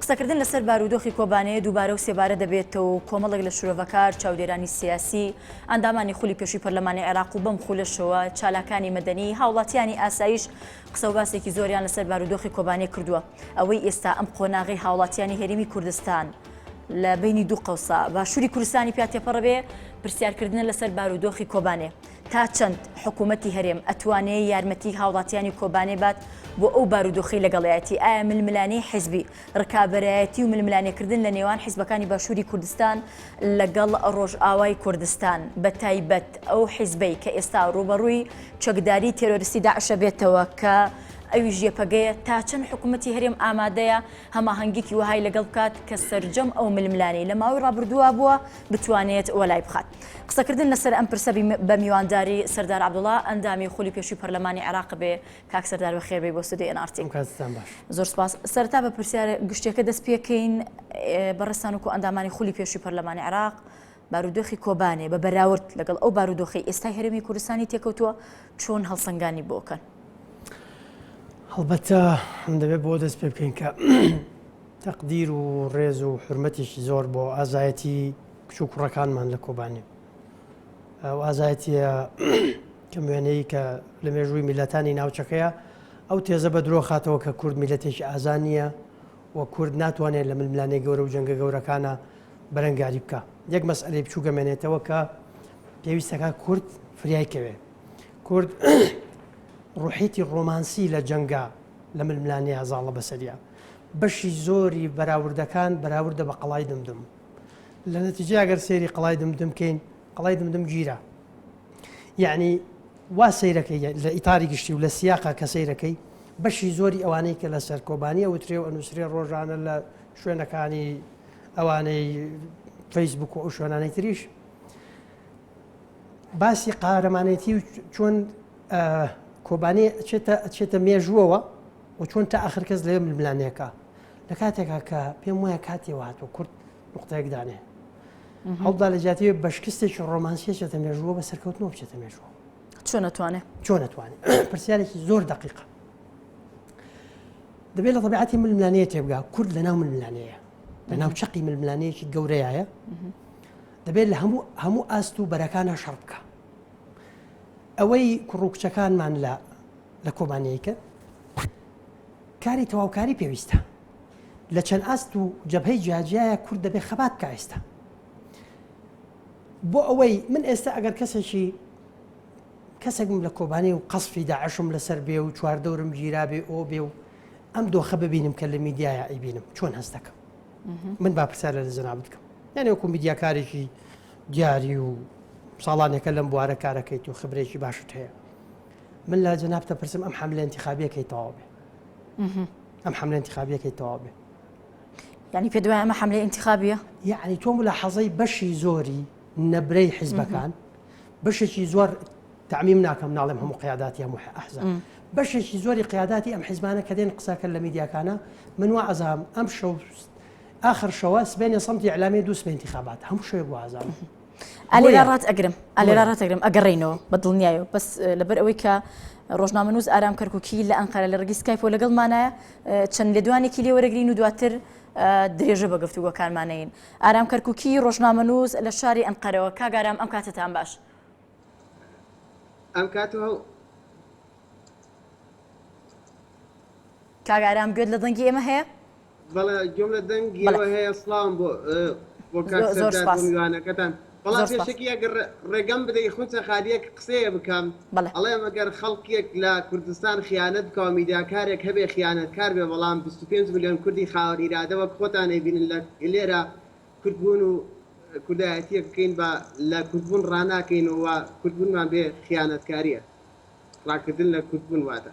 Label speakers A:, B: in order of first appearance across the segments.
A: قسەکردن لەسەر بارودۆخی کۆبانێ دووبارە و سێبارە دەبێتەوە و کۆمەڵێک لە شرۆڤەکار، چاودێرانی سیاسی، ئەندامانی خولی پێشووی پەرلەمانی عێراق و بەم خولەشەوە چالاکانی مەدەنی، هاوڵاتیانی ئاسایش قسە و باسێکی زۆریان لەسەر بارودۆخی کۆبانێ کردووە. ئەوەی ئێستا ئەم قۆناغەی هاوڵاتیانی هەرێمی کوردستان لە بەینی دوو قەوسە باشووری کوردستانی پیا تێپەڕ بێ، پرسیارکردنە لەسەر بارودۆخی کۆبانێ. تا چەند حکوومەتی هەرێم ئەتوانێ یارمەتیی هاوڵاتیانی کۆبانێ بات بۆ ئەو بارودۆخەی لەگەڵیایەتی؟ ئایا ململانێی حیزبی، ڕکابەرایەتی و ململانێکردن لە نێوان حیزبەکانی باشووری کوردستان لەگەڵ ڕۆژئاوای کوردستان، بەتایبەت ئەو حیزبەی کە ئێستا ڕووبەڕووی چەکداریی تێرۆریستی داعشە بێتەوە کە ئەویش یەپەگەیە، تا چەند حکوومەتی هەرێم ئامادەیە هەماهەنگییەکی وەهای لەگەڵ بکات کە سەرجەم ئەو ململانێی لە ماوەی ڕابردووە بووە، بتوانێت وەلای بخات. قسەکردن لەسەر ئەم پرسە بە میوانداری سەردار عبدوڵا ئەندامی خولی پێشوی پەرلەمانی عێراق بێ کاک سەردار بە خێربەی بۆ سودی ئەنارتی زۆر سپاس سەرتا بە پرسیار گشتەکە دەست پێکەین بەڕستان وکو ئەندامانی خولی پێشوی پەرلەمانی عێراق بارودۆخی کۆبانێ بە بەراورد لەگەڵ ئەو بارودۆخی ئێستای هەرمی کوردستانی تێکەوتووە چۆن هەڵسەنگانی بۆکەن هەڵبەتە
B: دەبێت بۆ دەست پێ بکەین کە تەقدیر و ڕێز و حورمەتێکی زۆر بۆ ئازایەتی کچ و کوڕەکانمان لە کۆبانێ ئەو ئازایەتیە کەم وێنەی کە لە مێژووی میلەتانی ناوچەکەیە ئەو تێزە بە درۆ خاتەوە کە کورد میلەتێکی ئازان نییە و کورد ناتوانێت لە ململانێ گەورە و جەنگە گەورەکانە بەرەنگاری بکە یەک مەسئلەی بچوو گەمێنێتەوە کە پێویستەکە کورد فریای کەوێ کورد ڕوحیتی ڕۆمانسی لە جەنگا لە ململانەیە زاڵە بەسەریە بەشی زۆری بەراوردەکان بەراوردە بە قەڵای دمدم. لە نەتیجەیا گەر سەیری قەڵای دمدم کەین، قەڵای دمدم گیرا. یەعنی وا سەیرەکەی لە ئیتاری گشتی و لە سیاقا کە سەیرەکەی بەشی زۆری ئەوانەی کە لەسەر کۆبانی ئەوترێ و ئەنووسرێ ڕۆژانە لە شوێنەکانی ئەوانەی فەیسبوک و ئەو شوێنانەی تریش باسی قارەمانێتی و چۆن کۆبانێ ئەچێتە ئەچێتە مێژووەوە وە چۆن تا ئاخر کەس لەوێ ململا نەکا لە کاتێکا کە پێم وایە کاتی وە هاتووە کورد نقطەیەک دانێ هەڵدا لە جیاتی بە شکستێکی ڕۆمانسیە چێتە مێژووە بە سەرکەوتنەوە بچێتە مێژووە چۆن نتوانێت
A: چۆن نتوانێت
B: پرسیارێکی زۆر دقیقە دەبێت لە طبیعەتی ململانەیە تێبگا کورد لە ناو ململانەیە لە ناو چقی ململانەیەکی گەورەیە دەبێت لە هەموو هەموو ئاست و بەرەکانە شەڕ بکە ئەوەی کوڕ و کچەکانمان لە لە کۆبانێیکە کاری تەواوکاری پێویستە لە چەند ئاست و جەبهەی جیاجیایە کورد دەبێ خەبات بکە ئێستا بۆ ئەوەی من ئێستا ئەگەر کەسێکی کەسێکم لە کۆبانی و قەسفی داعشم لەسەر بێ و چواردەورم گیرا بێ ئۆ بێ و ئەم دۆخە ببینم کە لە میدیایە ئەیبینم چۆن هەست دەکەم من با پرسیار لە زنا بکەم یعنی وەکو میدیاکارێکی دیاری و ساڵانێکە لەم بوارە کارەکەیت و خبرێکی باشت هەیە من لە جەنابت دەپرسم ئەم حەملە ئینتیخابیەکەی تەواو بێ ئەم حەملە ئینتیخابیەکەی تەواو بێ یعنی
A: پێ دوای ئەمە حملە ئینتخابیە یعنی تۆم لە
B: حەزەی بەشی زۆری نەبرەی حیزبەکان بەشێکی زۆر تعمیم ناکەم ناڵێم هەموو قیاداتی هەموو ئەحزە بەشێکی زۆری قیاداتی ئەم حیزمانە کە دێن قسەکە لە میدیاکانە من وا ئەزام ئەم شەو آخر شەوە سبێنێ سەمتی ئەلامی دووسمە انتخابات هەموو شوێ گوازان. ئالێرا ڕات
A: ئەگرم ئالێرا ڕات ئەگرم ئەگەڕێینەوە بە دڵنیایە بەس لەبەر ئەوەی کە ڕۆژنامە نووز ئارام کەرککی لە ئەنقەرە لە ڕگی سکایپۆ لەگەڵمانە چەند لێدوانێکی لێ وەرەگرین و دواتر درێژە بە گفتوگۆکانمانەین ئارام کەرککی ڕۆژنامە نووز لە شاری ئەنقەرەوە کاگارام ئەم کاتتان باش
C: ئەم کات
A: کاگارام گوێت لە دەنگی ئێمە هەیە بەڵێ گوێم
C: لە دەنگیەوە هەیە سڵاوم بۆ بۆ کاک سەردار بۆ میوانەکەتان بەڵام پێشەکی ئەگەر ڕێگەم بدەی خونچە خالیەک قسەیە بکەم ئەڵێم ئەگەر خەڵکێک لە کوردستان خیانەت بکا و میداکارێک هەبێ خیانەت کار بێ بەڵام 25 ملیۆن کوردی خاوەن ئیرادە وەک خۆتان ئەیبینن لە لێرە کوردبوون و کوردایەتیەک بکەین بە لە کوردبوون ڕاناکەین و کوردبوونمان بێ خیانەتکاریە ڕاکردن لە کوردبوون واتە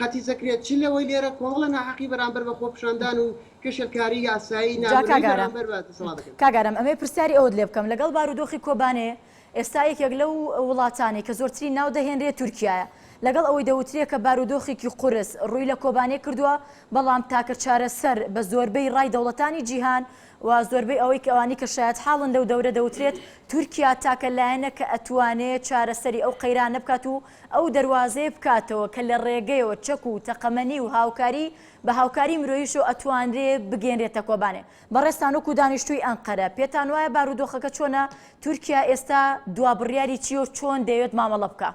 C: قەتی زەکریا چ لەوەی لێرە کۆمەڵە ناحەقی بەرامبەر بە خۆپیشاندان و کشلکاری یاسایی جا نامرئی کاک ئارام بەرامبەر بە دەسەڵات دەکەن؟ کاک ئارام ئەمەوێ پرسیاری ئەوەت
A: لێ بکەم لەگەڵ بارودۆخی کۆبانێ ئێستا یەکێک لەو وڵاتانەی کە زۆرترین ناو دەهێنرێ تورکیایە لەگەڵ ئەوەی دەوترێ کە بارودۆخێکی قورس ڕووی لە کۆبانێ کردووە بەڵام تاکە چارەسەر بە زۆربەی ڕای دەوڵەتانی جیهان و زۆربەی ئەوەی کە ئەوانی کە شایەتحاڵن لەو دەورە دەوترێت تورکیا تاکە لایەنە کە ئەتوانێ چارەسەری ئەو قەیرانە بکات و ئەو دەروازەیە بکاتەوە کە لە ڕێگەیەوە چەک و تەقەمەنی و هاوکاری بە هاوکاری مرۆییشەوە ئەتوانرێ بگەینرێتە کۆبانێ. بەڕێزتان وەکو دانیشتووی ئەنقەرە پێتان وایە بارودۆخەکە چۆنە؟ تورکیا ئێستا دوا بڕیاری چییە و چۆن دەیەوێت مامەڵە بکا؟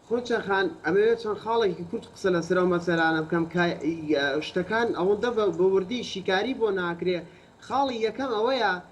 A: خۆچە خان،
C: ئەمەوێت چەند خاڵێکی کورت قسە لەسەر ئەو مەسەلانە بکەم کە شتەکان ئەوەندە بە وردی شیکاری بۆ ناکرێ. خاڵی یەکەم ئەوەیە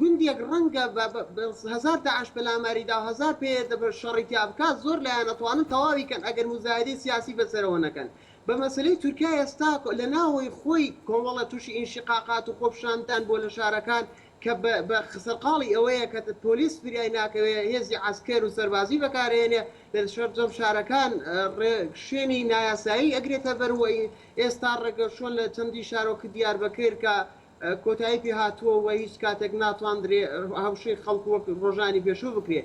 C: گوندێک ڕەنگە بە بە هەزار داعش پەلاماری دا و هەزار پەیەدە بە شەڕی تیا بکات زۆر لایەن ئەتوانن تەواوی کەن ئەگەر موزایەدەی سیاسی بەسەرەوە نەکەن بە مەسەلەی تورکیا ئێستا لە ناوەوەی خۆی کۆمەڵە توشی ئینشیقاقات و خۆپشاندان بوە لە شارەکان کە بە بە سەرقاڵی ئەوەیە کە پۆلیس فریای ناکەوێ هێزی عەسکەر و سەربازی بەکار ئەیەنێ لە سەرجەم شارەکان ڕێ شوێنی نایاسایی ئەگرێتە بەر و ئێستا ڕێگە شۆن لە چەندی شارۆک دیاربەکر کە کۆتایی پێ هاتووە و هیچ کاتێک ناتواندرێ هەڕشەی خەڵک وەک ڕۆژانی پێشوو بکرێ.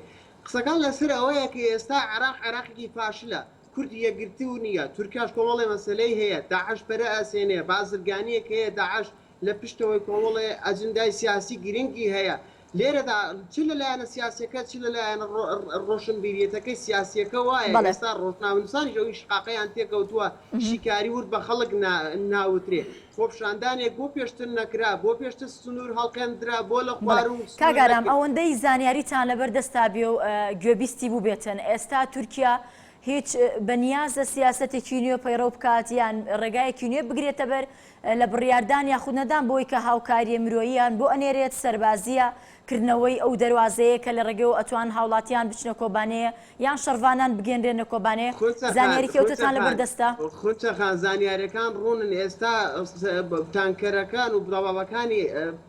C: قسەکان لە سەر ئەوەیە کە ئێستا عێراق عێراقێکی فاشلە، کورد یەکگرتوو نییە، تورکیاش کۆمەڵێ مەسەلەی هەیە، داعش پەرە ئەسێنێ، بازرگانییەک هەیە، داعش لە پشتەوەی کۆمەڵێ ئەجندای سیاسی گرنگی هەیە، لێرەدا چ لە لایەنە سیاسیەکە چ لە لایەنە ڕۆشنبیریەتەکەی سیاسیەکە وایە ئێستا ڕۆژنامەنوسانیش ئەوی شقاقیان تێکەوتووە شیکاری ورد بە خەڵک ناوترێ خۆپشاندانێک بۆ پێشتر نەکرا بۆ پێشتر سنور هەڵقێندرا بۆ لە خوارو کاک ئارام ئەوەندەی
A: زانیاریتان لەبەر دەستا بێ و گوێبیستی بووبێتن ئێستا تورکیا هیچ بەنیازە سیاسەتێکی نوێ پەیڕەو بکات یان ڕێگایەکی نوێ بگرێتە بەر لە بڕیاردان یاخود نەدان بۆی کە هاوکارییە مرۆییان بۆ ئەنێرێت، سەربازییە، کردنەوەی ئەو دەروازەیە کە لە ڕێگەیەوە ئەتوان هاوڵاتیان بچنە کۆبانێ یان شەڕڤانان بگەنرێنە کۆبانێ، زانیاری کەوتتان لە بەر دەستە؟ خونچە خان،
C: زانیاریەکان ڕوونن، ئێستا تانکەرەکان و بڵاوەکانی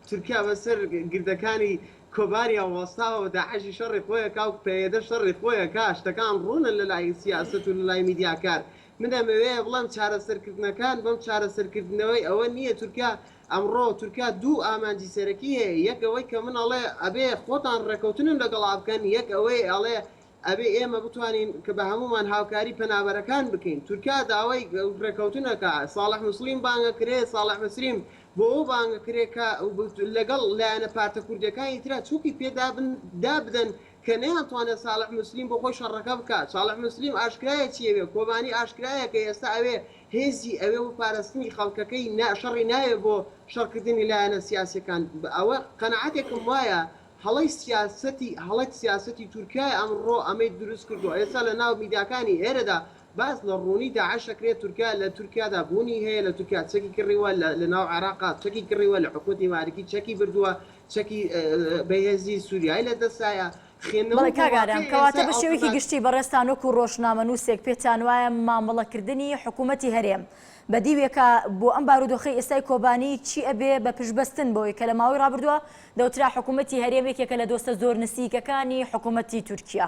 C: تورکیا بە سەر گردەکانی کۆبانێ وەستاوە و داعشی شەڕی خۆی ئەکا و پەیەدە شەڕی خۆی ئەکا، شتەکان ڕوونن لە لای سیاسەت و لە لای میدیاکار، من ئەمەوێ بڵێم چارەسەرکردنەکان بەم چارەسەرکردنەوەی ئەوە نییە تورکیا ئەمڕۆ تورکیا دوو ئامانجی سەرەکی هەیە یەک ئەوەی کە من ئەڵێ ئەبێ خۆتان ڕێکەوتنم لەگەڵا بکەن یەک ئەوەی ئەڵێ ئەبێ ئێمە بتوانین کە بە هەموومان هاوکاری پەنابەرەکان بکەین تورکیا داوای ڕێکەوتنەکا ساڵح مسلیم بانگە کرێ ساڵح مسریم بۆ ئەو بانگە کرێ کە لەگەڵ لایەنە پارتە کوردیەکانی ترا چوکی پێ دابن دابدەن کە نەیانتوانێت ساڵح موسلیم بۆ خۆی شەڕەکە بکات، ساڵح موسلیم ئاشکرایە چی ئەوێ، کۆبانی ئاشکرایە کە ئێستا ئەوێ هێزی ئەوێ بۆ پارستنی خەڵکەکەی نا شەڕی ناوێ بۆ شەڕکردنی لایەنە سیاسیەکان بە ئەوە قەناعەتێکم وایە هەڵەی سیاسەتی هەڵەی سیاسەتی تورکیایە ئەمڕۆ ئەمەی دروست کردوە ئێستا لە ناو میداکانی ئێرەدا باس لە ڕوونی داعش ئەکرێت تورکیا لە تورکیادا بوونی هەیە لە تورکیا چەکی کڕیوە لە لە ناو عێراقا چەکی کڕیوە لە حکومەتی مالکی چەکی بردووە چەکی بەهێزی سوریای لە دەستایە خوێندنەوە بەڵێ بۆ کاک ئارام
A: واقعی کەواتە ئێستا بە ئەو شێوەیەکی قسە گشتی بەڕێزتان وەکوو ڕۆژنامەنووسێک پێتان وایە مامەڵەکردنی حکوومەتی هەرێم بە دیوێکە بۆ ئەم بارودۆخەی ئێستای کۆبانی چی ئەبێ بە پشتبەستن بەوەی کە لە ماوەی ڕابردووە دەوترا حکوومەتی هەرێم یەکێکە لە دۆستە زۆر نسیکەکانی حکوومەتی تورکیا؟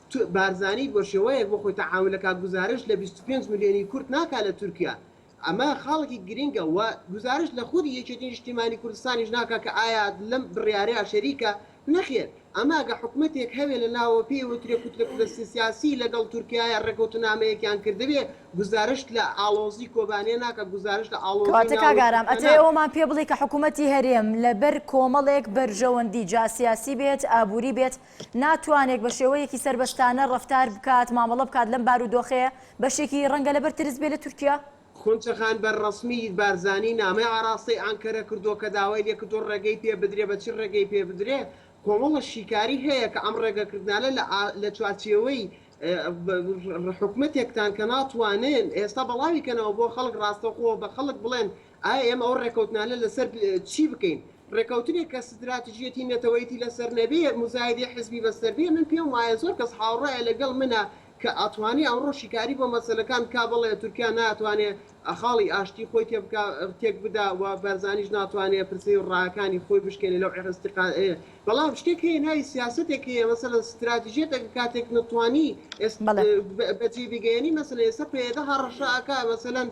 C: بارزانی بە شێوەیەک بۆ خۆی تەعامول دەکات گوزارشت لە بیست و پێنج ملیۆنی کورد ناکات لە تورکیا ئەمە خاڵێکی گرینگە و گوزارشت لە خودی یەکێتی نیشتیمانی کوردستانیش ناکات کە ئایا لەم بڕیارەیا شەریکە نەخێر ئەمە ئەگە حکومەتێک هەبێت لە ناوەوە پێی وترێ کوتلە سیاسی لەگەڵ تورکیایە ڕێکەوتنامەیەکیان کردبێ گوزارشت لە ئاڵۆزی کۆبانێ ناکات گوزارشت لە ئاڵۆزی ناو تورکیا ناکات. کەواتە کاک ئارام ئەتەوێ ئەوەمان
A: پێ بڵێی کە حکومەتی هەرێم لەبەر کۆمەڵێک بەرژەوەندی جا سیاسی بێت ئابووری بێت ناتوانێک بە شێوەیەکی سەربەستانە ڕەفتار بکات، مامەڵە بکات لەم بارودۆخەیە، بەشێکی ڕەنگە لەبەر ترس بێ لە تورکیا. خونچەخان بە
C: ڕەسمی بارزانی نامەی ئاراستەی ئانکەرە کردووە کە داوای لێکردووە ڕێگەی پێ بدرێ، بە چی ڕێگەی پێ بدرێ؟ کۆمەڵە شیکاری هەیە کە ئەم ڕێگەکردنانە لە لە چوارچێوەی حکومەتێکتان کە ناتوانن ئێستا بەڵاوی کەنەوە بۆ خەڵک ڕاستەوخۆ بە خەڵک بڵێن ئایا ئێمە ئەو ڕێکەوتنانە لەسەر چی بکەین؟ ڕێکەوتنێک کە ستراتژیەتی نەتەوەیەتی لەسەر نەبێ، موزایدەی حزبی بەسەر بێ، من پێم وایە زۆر کەس هاوڕایە لەگەڵ منە کە ئەتوانێ ئەمڕۆ شیکاری بۆ مەسەلەکان بکا، بەڵێ تورکیا ناتوانێ خاڵی ئاشتی خۆی تێبکا تێکبدا و بارزانیش ناتوانێ پرسەی و ڕاکانی خۆی بشکێنێ لەو عێ ئیستیقا ئێ، بەڵام شتێک هەیە ناوی سیاسەتێک هەیە مەسەلەن ستراتژیەتەکە کاتێک نەتوانی ئێست بەجێی بگەیەنی مەسەلەن ئێستا پەیەدە هەڕەشە ئەکا مەسەلەن،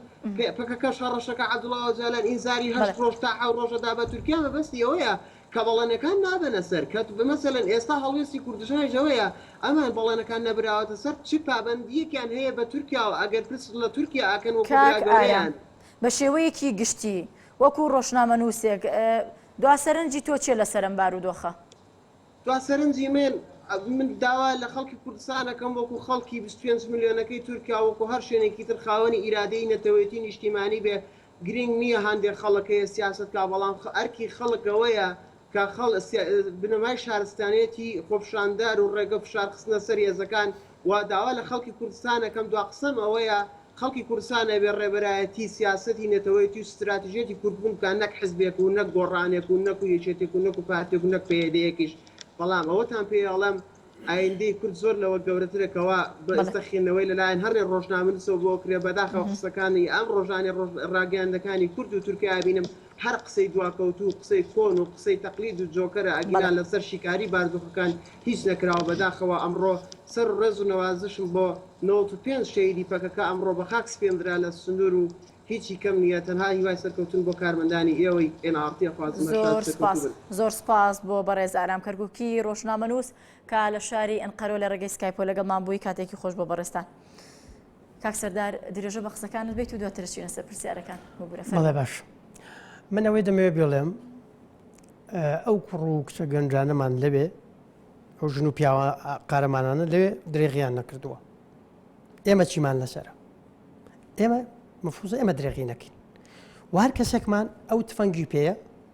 C: پەکەکەش هەڕەشەکە عەبدوڵا ئۆجالان ئینزاری هەشت ڕۆژ تا حەو ڕۆژە دا بە تورکیا مەبەستی ئەوەیە کە بەڵێنەکان نابەنە سەر کە مەسەلەن ئێستا هەڵوێستی کوردستانیش ئەوەیە ئەمان بەڵێنەکان نەبراوەتە سەر چ پابەندییەکیان هەیە بە تورکیاوە ئەگەر پرس لە تورکیا ئەکەن وەکو برا کاک ئارام گەورەیان. بە شێوەیەکی
A: گشتی وەکو ڕۆژنامەنووسێک دوا سەرنجی تۆ چیە لەسەر ئەم بارودۆخە؟ تخوا
C: سەرنجی من من داوا لە خەڵکی کوردستان ئەکەم وەکو خەڵکی بیست و پێنج ملیۆنەکەی تورکیا وەکو هەر شوێنێکی تر خاوەنی ئیرادەیی نەتەوێتی نیشتیمانی بێ گرینگ نیە هەندێک خەڵک هەیە سیاسەت کا بەڵام ئەرکی خەڵک ئەوەیە کە خەڵ بنەمای شارستانێتی خۆپشاندار و ڕێگە فشار خستنە سەر هێزەکان و داوا لە خەڵکی کوردستان ئەکەم دوا قسەم ئەوەیە خەڵکی کوردستان ئەبێ ڕێبەرایەتی سیاسەتی نەتەوەیەتی و ستراتژیەتی کوردبوون بکات نەک حزبێک و نەک گۆڕانێک و نەک و یەکێتێک و نەک و پارتێک و نەک پەیەدەیەکیش بەڵام ئەوەتان پێ ئەڵێم ئایندەی کورد زۆر لەوە گەورەترە کەوا بە ئێستا خوێندنەوەی لە لایەن هەرێ ڕۆژنامەنووسەوە بۆ ئەکرێ بەداخەوە قسەکانی ئەم ڕۆژانەی ڕۆژ ڕاگەیاندنەکانی کورد و تورکیا ئەبینم هەر قسەی دواکەوتو و قسەی کۆن و قسەی تەقلید و جۆکەرە ئەگینا لەسەر شیکاری باردۆخەکان هیچ نەکراوە بەداخەوە ئەمڕۆ سەر و ڕێز و نەوازشم بۆ نەوەت و پێنج شەهیدی پەکەکە ئەمڕۆ بە خاک سپێندرا لە سنور و هیچی کەم نیە تەنها هیوای سەرکەوتن بۆ کارمەندانی ئێوەی ئێن ئاڕ تی ئەخوازم هەر شاد زۆر سەرکەوتو سوپاس
A: بن. زۆر سوپاس بۆ بەڕێز ئارام کەرکوکی ڕۆژنامەنووس کە لە شاری ئەنقەرە و لە ڕێگەی سکایپەوە لەگەڵمان بووی کاتێکی خۆش بۆ بەڕێزتان. کاک سەردار درێژە بە قسەکانت بیت و دواتر چینە سەر پرسیارەکان بگورە فەڵێ باش
B: من ئەوەی دەمەوێ بێڵێم ئەو کوڕ و کچە گەنجانەمان لەوێ ئەو ژن و پیاوە قارەمانانە لەوێ درێغیان نەکردووە ئێمە چیمان لەسرە ئێمە مەفوزە ئێمە درێغی نەکەین وار کەسێکمان ئەو تفەنگی پێەیە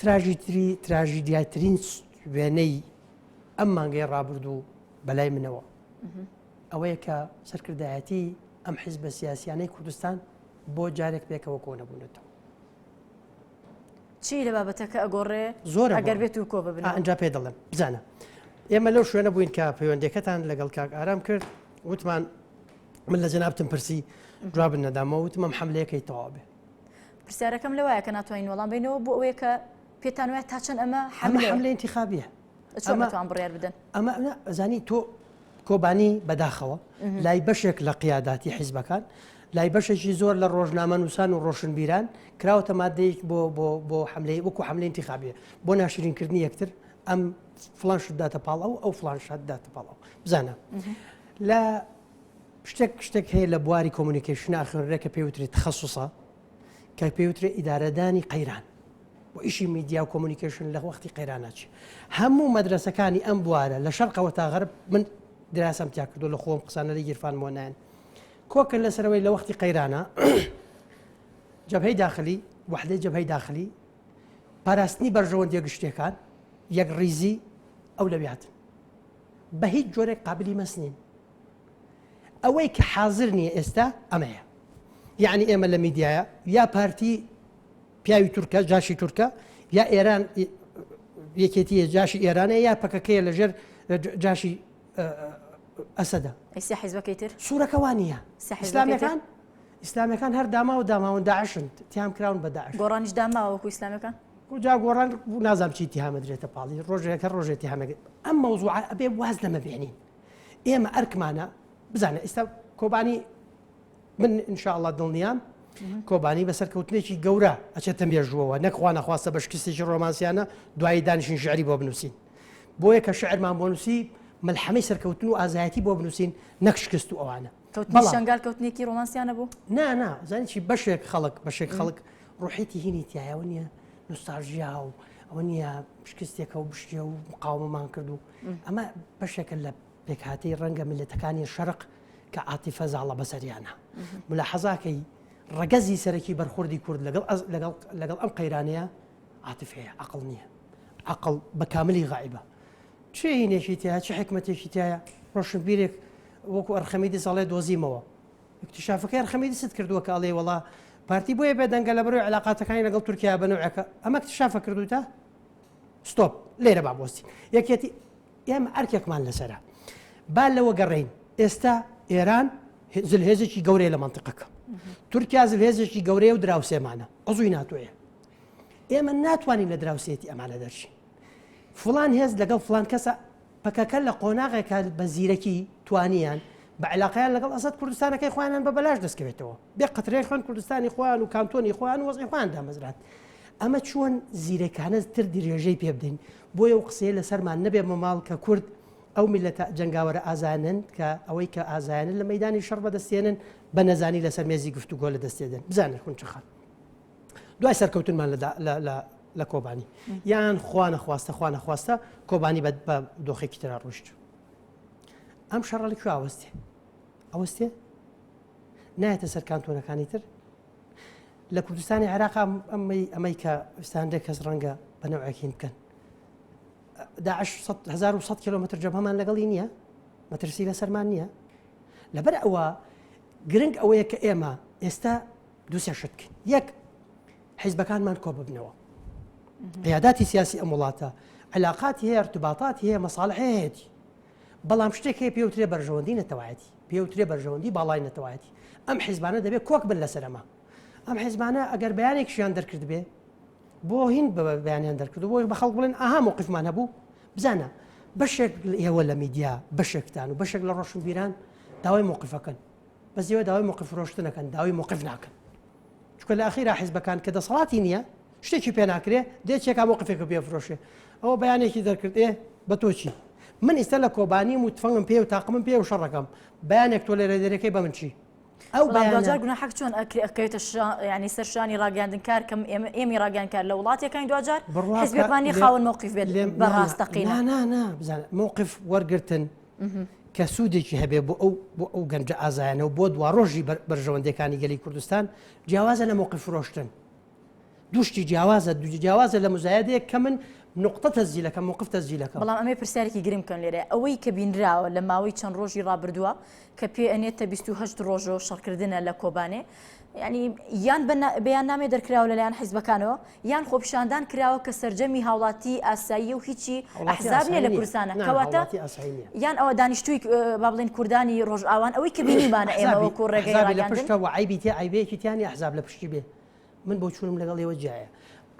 B: تراژیتری تراژیدیاترین وێنەی ئەم مانگەی ڕابردوو بەلای منەوە ئەوەیە کە سەرکردایەتی ئەم حیز بە سیاسیانەی کوردستان بۆ جارێک پێکەوە کۆنەبوونەتەوە
A: چی لە بابەتەکە ئەگۆڕێ زۆر ئەگەر بێت و
B: کۆ ببن
A: ئەجا پێ دەڵێم بزانە
B: ئێمە لەو شوێنە بووین کە پەیوەندەکەتان لەگەڵ کاک ئارام کرد وتمان من لە جەنابتم پرسی جواب نەدامەوە وتمەم حملەیەکەی تەواو بێ پرسیارەکەم
A: لەوایە کە ناتوانین وەڵام بینەوە بۆ ئەوەیە کە پێتان وایە تا چەند ئەمە حملە حملە انتخابیە
B: ئەمەتوان بڕیار
A: بدەن ئەمە ئەزانی
B: تۆ کۆبانی بەداخەوە لای بەشێک لە قیاداتی حیزبەکان لای بەشێکی زۆر لە ڕۆژنامە نووسان و ڕۆشنبیران کراوەتە مادەیەک بۆ بۆ بۆ حملەی وەکو حملە انتخابیە بۆ ناشرینکردنی یەکتر ئەم فلان شداتە پاڵ ئەو ئەو فلان شداتە پاڵەوە بزانە لە شتێک شتێک هەیە لە بواری کۆمونیکەیشنە ئەخوێنرێ کە پێی وترێت تخصصە کە پێی وترێ ئیدارەدانی قەیران و ئیشی میدیا و کۆمونیکەیشن لە وەختی قەیراناچی هەموو مەدرسەکانی ئەم بوارە لە شەرقەوە تا غەرب من دراسەم تیا کردو لە خۆم قسانە لە گیرفان مۆنایەن کۆکن لەسەرەوەی لە وەختی قەیرانە جەبهەی داخلی وحدەی جەبهەی داخلی پاراستنی بەرژەوەندیە گشتەکان یەک ڕیزی ئەو لەویاتن بە هیچ جۆرێک قابلی مەس نین ئەوەی کە حازر نییە ئێستا ئەمەیە یعنی ئێمە لە میدیایە یا پارتی پیاوی تورکە جاشی تورکە یا ئێران یەکێتیە جاشی ئێرانە یا پەکەکەیە لەژێر جاشی ئەسەدا ئەستا حیزبەکەی
A: تر سوورەکەوانە
B: سەحسلامەکان ئیسلامیەکان هەر داماو داماون داعشن تیام کراون بە داعش گۆڕانیش داماوەکو
A: ئیسلامیەکان جا گۆڕان
B: نازام چی تیامەدرێتە پاڵی ڕۆژێکە ڕۆژێتی هەمەگە ئەم مەوزوع ئەبێ واز لەمە بێنین ئێمە ئەرکمانە بزانە ئیستا کۆبانی من انشاءله دڵنیام کۆبانی بەسەر کەوتنێکی گەورە ئەچێتە مێژووەوە نەکخوا نەخواستە بە شکستێکی ڕۆمانسیانە دوایی دانیشین ژعری بۆ بنووسین بۆیە کە شعرمان بۆ نووسی ملحەمەی سەرکەوتن و ئازایەتی بۆ بنووسین نەکشکست و ئەوانە کەوتنی شەنگال کەوتنێکی
A: ڕۆمانسیان نەبوو نا نا زانی چی
B: بەشێک خەڵک بەشێک خەڵک ڕوحێتی هینی تایەوە نییە نوستاژیا و ئەوە نییە شکستێکە و بشتە و مقاومەمان کرد و ئەمە بەشێکە لە پێکهاتی ڕەنگە ملەتەکانی شەرق کە عاتیفە زاڵە بەسەریانە ملا حەزاکەی ڕگەزی سەرەکی بەرخوردی کورد لەگەڵ لەگەڵ ئەم قەیرانەیە عاتفەیە عقل نییە عقل بە کاملی غایبە چ ئینێکی تیا چ حکمەتێکی تایە ڕۆشنبیرێک وەکو ئەرخەمیدیس ئەڵێ دۆزیمەوە اکتشافەکە ئەرخەمیدیست کردووە کە ئەڵێ وڵا پارتی بۆیە بێدەنگە لە بەرەوەی علااقاتەکانی لەگەڵ تورکیا بنەوەەکە ئەمە اکتشافە کردوتە ستۆپ لێرە بابۆستی یەکێتی ئێمە ئەرکێکمان لەسرە با لەوە گەڕین ئێستا ئێران زلهێزێکی گەورەیە لە منطقەکە تورکیا زلهێزێکی گەورەیە و دراوسێمانە ئەزوی ناتوێ ئێمە ناتوانین لە دراوسێتی ئەمانە دەرچین فڵان هێز لەگەڵ فڵان کەسە، پەکەکە لە قۆناغێکە بە زیرەکی توانیان بە عیلاقەیان لەگەڵ ئەسەد کوردستانەکەی خۆیانیان بە بەلاش دەستکەوێتەوە، بێ قەترەی خوێن کوردستانی خۆیان و کانتۆنی خۆیان و وەزعی خۆیان دامەزراند. ئەمە چۆن زیرەکانە تر درێژەی پێ بدەین؟ بۆیە ئەو قسەیە لە سەرمان نەبێ مەماڵ کە کورد ئەو میللەتە جەنگاوەرە ئازایانەن کە ئەوەی کە ئازایانە لە مەیدانی شەڕ بەدەستێنن بە نەزانی لەسەر مێزی گفتوگۆ لە دەستێدەن. بزانە خونچە خان. دوای سەرکەوتنمان لە کۆبانی یان خوانە خواستە خوانە خواستە کۆبانی بە دۆخێکی تررا ڕشت ئەم شەڕە لە کوێ ئاوەستێ ئەوەستێ نایەتە سەر کانتۆنەکانی تر لە کوردستانی عێراق ئەمەی ئەمەی کە ستاندێک کەس ڕەنگە بە نەوەکین بکەن داعش 1970 کیلومتر جەبهەمان لەگەڵی نییە مەترسی لە سەرمان نییە لەبەر ئەوە گرنگ ئەوەیە کە ئێمە ئێستا دوسێ شت بکەین یەک حیزبەکانمان کۆ ببنەوە قیاداتی سیاسی ئەم وڵاتە علااقاتی هەیە ارتباطات هەیە مەساڵح هەیەی بەڵام شتێک هەیە پێوترێ بەرژەوەندی نەتەوایەتی پێوترێ بەرژەوەندی باڵای نەتەوایەتی ئەم حیزبانە دەبێت کۆک بن لەسەرما ئەم حیزبانە ئەگەر بەیانێکشیان دەرکرد بێ بۆ هین بە بەیانیان دەرکرد بۆ بە خەڵک بڵێن ئاها موقفمان هەبوو بزانە بەشێک ئێوە لە میدیا بەشێکتان و بەشێک لە ڕۆشنبیران داوای موقفەکەن بەس ئێوە داوای موقف فرۆشتن ئەکەن داوای موقف ناکەن چونکە لە ئەخیرا حیزبەکان کە دەسەڵاتی نییە شتێکی پێ ناکرێ دێ چێکا موقفێکە پێ فرۆشێ ئەوە بەیانێکی دەرکرد ئێ بە تۆچی من ئیستا لە کۆبانیم و تفەنگم پێ و تاقمم پێ و شەڕەکەم بەیانێک تۆ لێرە دەرەکەی بە من چی ئەو بەجار
A: گونا حەق چۆن ئەکەوێتە ینی سەرشانی ڕاگەاندن کار کەم ئێمە ئێمی ڕاگەان کار لە وڵاتەکانی دوجار حزبەکانی خاون مووقف بێت بەڕاستەقی بزان
B: مووقف وەرگتن کە سوودێکی هەبێ بۆ ئەو بۆ ئەو گەنجە ئازایانەوە بۆ دواڕۆژی بەرژەوەندەکانی گەلی کوردستان جیاوازە لە مۆقی فرۆشتن دوشتی جیاوازە دو جیاوازە لە مزایدەیە کە من نقطە تەزیلەکە مقفتە زیلەکە بەڵام ئەمێ پرسیارێکی
A: گرنگ کەن لێرە ئەوەی کە بینراوە لە ماوەی چەند ڕۆژی ڕابردووە کە پێ ئەنێتە 28 ڕۆژۆ شەڕکردنە لە کۆبانێ ینی یان بەیان نامێ دەرکراوە لەلایەن حیزبەکانەوە یان خۆپیشاندان کراوە کە سەرجەمی هاوڵاتی ئاساییە و هیچی ئەحزاب نیە لە کوردستانە کەواتە یان ئەوە دانیشتوی با بڵین کوردانی ڕۆژئاوان ئەوەی کە بینیمانە ئێمە وەکو ڕێگەی لە پشتە و عیبی تێ عیبەیەکی
B: تیانی ئەحزاب لە پشتی بێ من بۆ چونم لەگەڵ ئێوە جیایە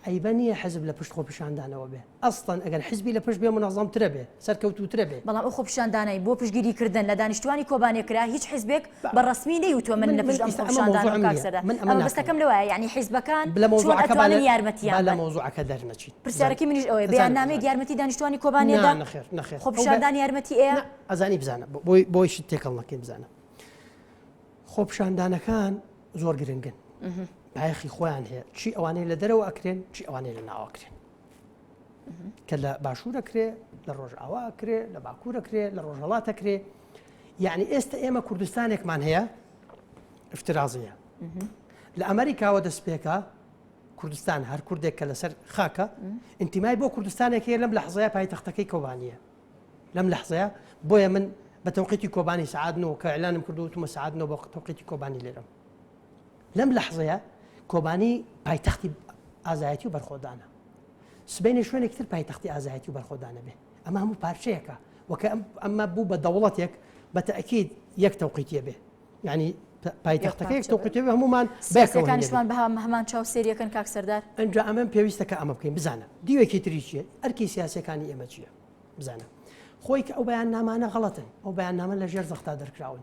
B: عیبە نیە حزب لە پشت خۆپیشاندانەوە بێ ئەسڵەن ئەگەر حیزبی لە پشت بێ مونەزەمترە بێ، سەرکەوتووترە بێ. بەڵام ئەو خۆپیشاندانەی بۆ
A: پشتگیری کردن لە دانیشتوانی کۆبانێ کرا هیچ حیزبێک بە ڕەسمی نەیوتوە من لە پشت ئەم خۆپیشاندانەم کاک سەردار مەبەستەکەم لەوەیە یانی حیزبەکان چۆن ئەتوانن یارمەتیان بدەن. با لە مەوزوعەکە دەرنەچین.
B: پرسیارەکەی منیش ئەوەیە
A: بەیاننامەیەک یارمەتی دانیشتوانی کۆبانێ دا؟ نا نەخێر نەخێر. خۆپیشاندان
B: یارمەتی
A: ئەیە؟ نا ئەزانی بزانە
B: بۆی شت تێکەڵ نەکەین بزانە خۆپیشاندانەکان زۆر گرنگن بایەخی خۆیان هەیە چی ئەوانەی لە دەرەوە ئەکرێن چی ئەوانەی لە ناوە ئەکرێن. کە لە باشوورە کرێ لە ڕۆژئاوا کرێ لە باکوورە کرێ لە ڕۆژهڵاتە کرێ یعنی ئێستا ئێمە کوردستانێکمان هەیە افترازیە لە ئەمریکاوە دەستپێکە کوردستان هەر کوردێک کە لەسەر خاکە ئینتیمای بۆ کوردستانێک هەیە لەم لە حزای پای تەختەکەی کۆبانیە لەم لە حزەیە بۆیە من بە تەوقیتی کۆبانی سعادنەوە کە ئەلانم کردو وتمە سعادنەوە بە تەوقیتی کۆبانی لێرم لەم لەحزەیە کۆبانی پایتەختی ئازایەتی و بەرخۆدانە سبینێ شوێنێک تر پایتەختی ئازایەتی و بەرخۆدانە بێ ئەمە هەموو پارچەیەەکە وەکە ئەمە بوو بە دەوڵەتێک بە تەکیید یەک تەوقیتە بێ ینی پایتەختەکەیەک تۆقتێ هەمومان بەکانشمان بە
A: هەمان چاو سریەکەن کاک سەردار ئەجا ئەمەم پێویستە کە
B: ئەمە بکەین بزانە دیوێکی تری چیە ئەرکی سیاسەکانی ئێمە چییە بزانە خۆی کە ئەو بەیان نامانە غڵەتن ئەو بەیان نامە لە ژێر زەختا دەرکراون